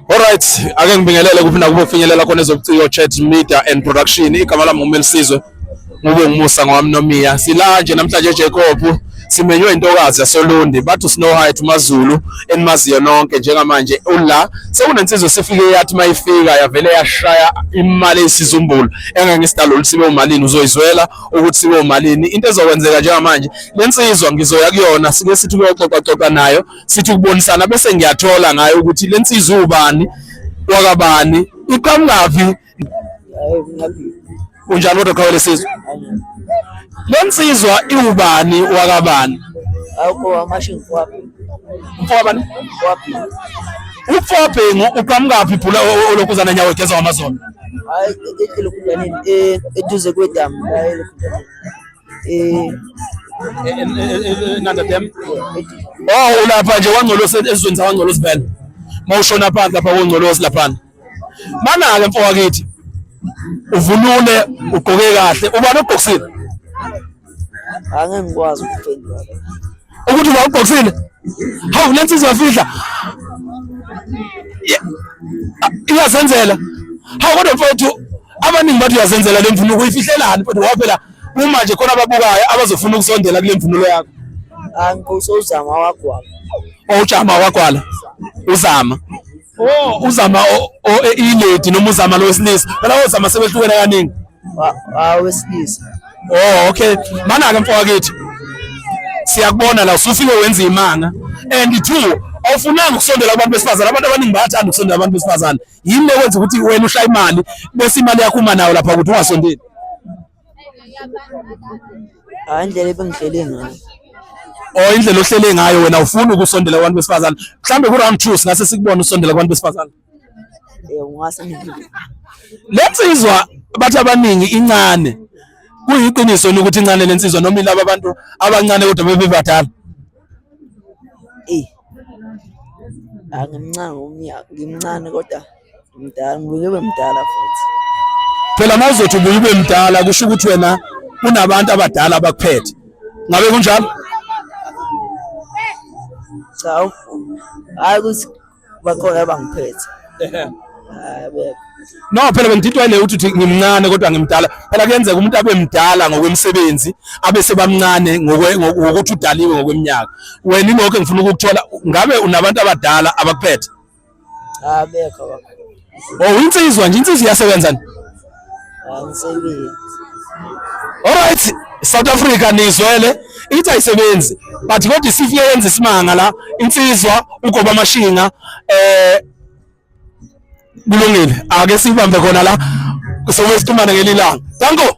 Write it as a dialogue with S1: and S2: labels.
S1: Alright, ake ngibingelele kuphi nakubo finyelela khona ezobuciko chat media and production. Igama lami nguMelisizwe. Ngube ngumusa ngowami nomiya. Sila nje namhlanje Jacob simenywe intokazi yasoLundi bathi Snow Height uMaZulu enimaziyo nonke njengamanje ula sekunensizwe sifike yathi mayifika yavele yashaya imali esizumbulu engangisidalo lisibe umalini uzoyizwela ukuthi sibe umalini into ezokwenzeka njengamanje lensizwa ngizoya kuyona sike sithi kuyoxoxa xoxa nayo sithi ukubonisana bese ngiyathola ngayo ukuthi le nsizwa ubani wakabani iqhamukaphi unjani kodwa qhawe lesizwe le nsizwa iwubani wakabani
S2: mfowabani
S1: umfowabhengu uqhamukaphi bhula olokhuzana nyawo egeza wamazolo
S2: eduze kwedamu
S1: eh enanda dem oh ulapha nje wangcolosi ezweni sawangcolosi vele mawushona phansi lapha wongcolosi laphana mana ke mfowakithi uvunule ugqoke kahle ubani ogqokisile
S2: angeke ngikwazi ukuphendula ukuthi
S1: wawubhoksile hawu le nsizwa yafihla iyazenzela hawu kodwa mfowethu abaningi bathi uyazenzela le mvunuko uyifihlelani mfowethu ngoba phela uma nje khona ababukayo abazofuna ukusondela kule mvunulo yakho angikho
S2: usozama wagwala owujama
S1: wagwala uzama Oh, uzama ilady noma uzama lo wesilisa. Phela ozama sebehlukene kaningi. Ah,
S2: wesilisa. Oh,
S1: okay. Mana ke mfowakethu. Siyakubona la usufike wenza imanga. And two, awufunanga ukusondela abantu besifazane abantu abaningi bayathanda ukusondela abantu besifazane yini ekwenza ukuthi wena ushaya imali bese imali yakho uma nayo lapha ukuthi ungasondeli
S2: hayi indlela ebengihlele ngayo or indlela
S1: ohlele ngayo wena ufuna ukusondela kubantu besifazane mhlambe ku-round two singase sikubone usondela kubantu besifazane
S2: le nsizwa
S1: bathi abaningi incane kuyiqiniso ni ukuthi incane le nsizwa noma ilaba abantu abancane kodwa bebebadala eyi
S2: angimncane umnyaka ngimncane kodwa Mdala, ngibuye ube mdala futhi. Phela uma
S1: uzothi ubuye ube mdala kusho ukuthi wena unabantu abadala abakuphethe. Ngabe kunjalo?
S2: Cha. Hayi ukuthi bakhona abangiphethe.
S1: Hayi bebe. No phela bengididwa ile uthi ngimncane kodwa ngimdala. Phela kuyenzeka umuntu abe mdala ngokwemsebenzi, abe sebamncane ngokuthi udaliwe ngokweminyaka. Wena ilokho engifuna ukukuthola, ngabe unabantu abadala abakuphethe? Ah
S2: bekho baba.
S1: Oh insizwa nje insizwa iyasebenza ni?
S2: Angisebenzi.
S1: Ah, Alright South Africa nizwele ithi ayisebenzi but kodwa isifike yenza isimanga la insizwa ugoba amashinga eh kulungile ake sibambe khona la sobe situmane ngelilanga danko